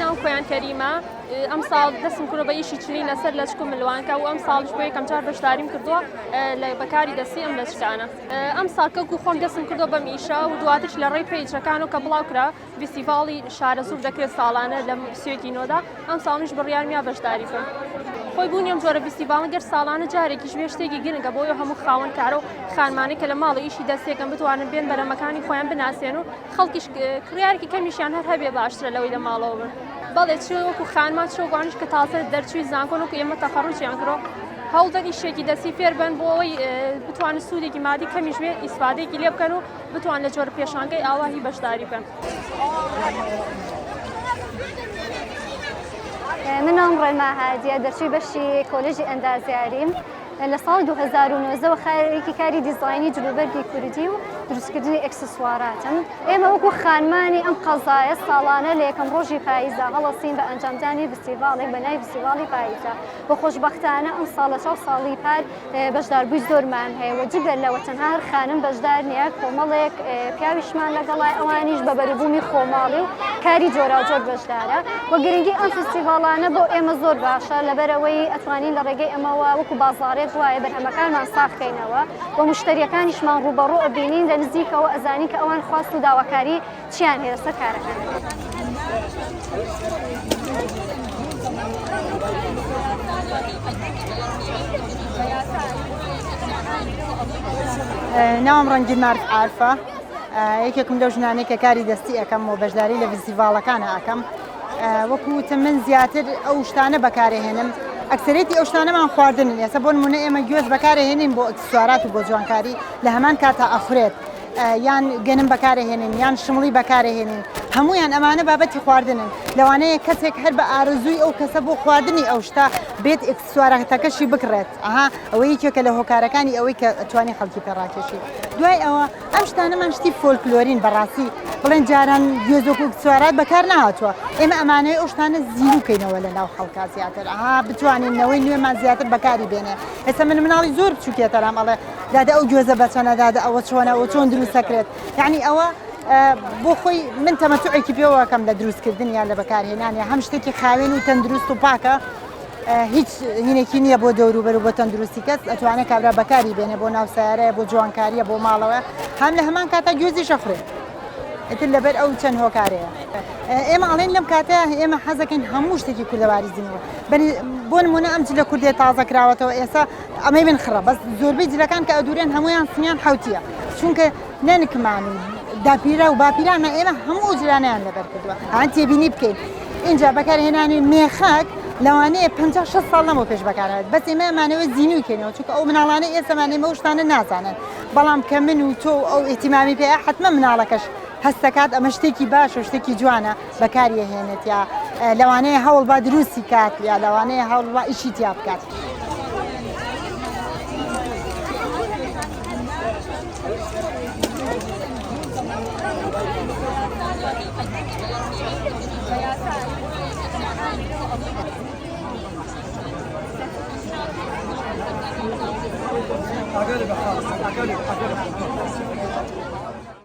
ناو خۆیان کەریمە ئەم ساڵ دەستم کورە بە ئیشی چنین لەسەر لەچکم ملوانکە و ئەم ساڵش بۆ یەکەم چار بەشداریم کردووە لە بەکاری دەستی ئەم لەچکانە ئەم ساکەک و خۆم دەستم کردو بەم ئیشە و دواتش لە ڕێی پیجەکان و کە بڵاو کرا ڤیستیڤاڵی شارەزوور دەکرێت ساڵانە لە سوێتی نۆدا ئەم ساڵیش بڕیارمیا بەشداری بکەم خۆی بوونی ئەم جۆرە ڤیستیڤاڵە گەر ساڵانە جارێکیش بێ شتێکی گرنگە بۆی هەموو خاوەن کارە و خانمانی کە لە ماڵ و ئیشی دەستێکم بتوانن بێن بەرەمەکانی خۆیان بناسێن و خەڵکیش کڕیارێکی کەمیشیان هەر هەبێ باشترە لەوەی لە ماڵەوە بن بەڵێ چ وەکو خانمان چۆگوانش کە تازە دەرچووی زانکۆن وکو ئێمە تەخەڕوجیان کرۆ هەوڵدەن ئیشێکی دەستی فێربن بۆ ئەوەی بتوانن سوودێکی مادی کەمیش بێت ئیسفادێکی لێ بکەن و بتوان لە جۆرە پێشانگەی ئاوا هی بەشداری بکەن. منام ڕێما هادیە دەرچوی بەشی کۆلژی ئەندازیاریم لە ساڵ 2009ەوە خارێکی کاری دیزایانی جلوبەرگی کوردی و دروستکردنی ئەکسسواراتم ئێمە وەکو خانمانی ئەم قەزایە ساڵانە لە یەکەم ڕۆژی پاییزە هەڵەسین بە ئەنجامدانی فستیڤاڵێک بە نای فستیڤاڵی پاییزە بە خۆشببختانە ئەم ساڵە چاو ساڵی پار بەشداربووی زۆرمان هەیە و جگە لەوە تەنها هەر خانم بەشدار نییە کۆمەڵێک پیاویشمان لەگەڵای ئەوانیش بە بەروبوومی خۆماڵی و کاری جۆراوجۆر بەشدارە و گرنگی ئەم فستیڤاڵانە بۆ ئێمە زۆر باشە لەبەرەوەی ئەتوانین لە ڕێگەی ئەمەوە وەکو بازاڕێک وایە بەرهەمەکانمان ساخکەینەوە و مشتریەکانیشمان ڕووبەڕوو ئەبینین لە نزیکەوە ئەزانین کە ئەوان خواست و داواکاری چیان هەیە لەسەر کارەکەن؟ ناوم ڕەنگی مارک عرفە یەکێکم لەو ژنانێک کە کاری دەستی ئەەکەم و بەشداری لە ڤزیڤاڵەکانە ئەەکەم وەکوتە من زیاتر ئەو شتانە بەکارهێنم ئەکسەرێتی ئەو شتانەمان خواردن ێسە بۆن منە ئێمە گوێز بەکارهێنین بۆ ئەکسسوارات و بۆ جوانکاری لە هەمان کاتا ئەخورێت یان گەنم بەکارەهێنین یان شمڵی بەکارەهێنین هەمویان ئەمانە بابەتی خواردنن لەوانەیە کەسێک هەر بە ئارزووی ئەو کەسە بۆ خواردنی ئەو شتا بێت ئکسسوارەتەکەشی بکڕێت ئەها ئەوە یەکێکە لە هۆکارەکانی ئەوەی کە توانی خەڵکی پێڕاکێشی دوای ئەوە ئەم شتانەمان شتی فۆلکلۆرین بەڕاستی بڵێن جاران گوێزۆک و سوارات بەکار نهاتوە ئێمە ئەمانەی ئەو شتانە زیروکەینەوە لە ناو خەڵکە زیاتر ئەها بتوانین نەوەی نوێمان زیاتر بەکاری بێنێ ئێستا من مناڵی زۆر بچوکێتەرام ئەڵێ دادە ئەو گوێزە بە چەنە دادە ئەوە چۆنە و چۆن دروست دەکرێت یعنی ئەوە بۆ خۆی من تەمەتوعێکی پێوەکەم لە دروستکردن یان لە بەکارهێنانە هەم شتێکی خاوێن و تەندروست و پاکە هیچ هینێکی نییە بۆ دەوروبەر و بە تەندروستی کەس ئەتوانێت کابرا بەکاری بێنێ بۆ ناو سیارەیە بۆ جوانکاریە بۆ ماڵەوە هەم لە هەمان کاتا گوێزی شەخرێت ئەتر لەبەر ئەو چەند هۆکارەیە ئێمە ئەڵێن لەم کاتە ئێمە حەزەکەین هەموو شتێکی کوردەواری زیینەوە بۆ نمونە ئەم جلە کوردێت تازە کراوەتەوە ئێستا ئەمەی من خڕە بەس زۆربەی جلەکان کە ئەدورێن هەمویان سمیان حوتیە چونکە نەنکمان و داپیرە و باپیرانە ئێمە هەموو جلانیان لەبەر کردووە ئەان تێبینی بکەین اینجا بەکارهێنانی مێخەک لەوانەیە 5 6 ساڵ لەمەوە پێش بەکارێت بەس ئێمەمانەوە زیینوی کەینەوە چونکە ئەو مناڵانە ئێسەمانەی مەوشتانە نازانن بەڵام کە من و تۆ ئەو ئیتیمامی پێ حتممە مناڵەکەش هەستەکات ئەمە شتێکی باشە شتێکی جوانە بەکاریەهێنێت یا لەوانەیە هەوڵ با دروستی کات یا لەوانەیە هەوڵ با ئیشی تیا بکات. Thank you.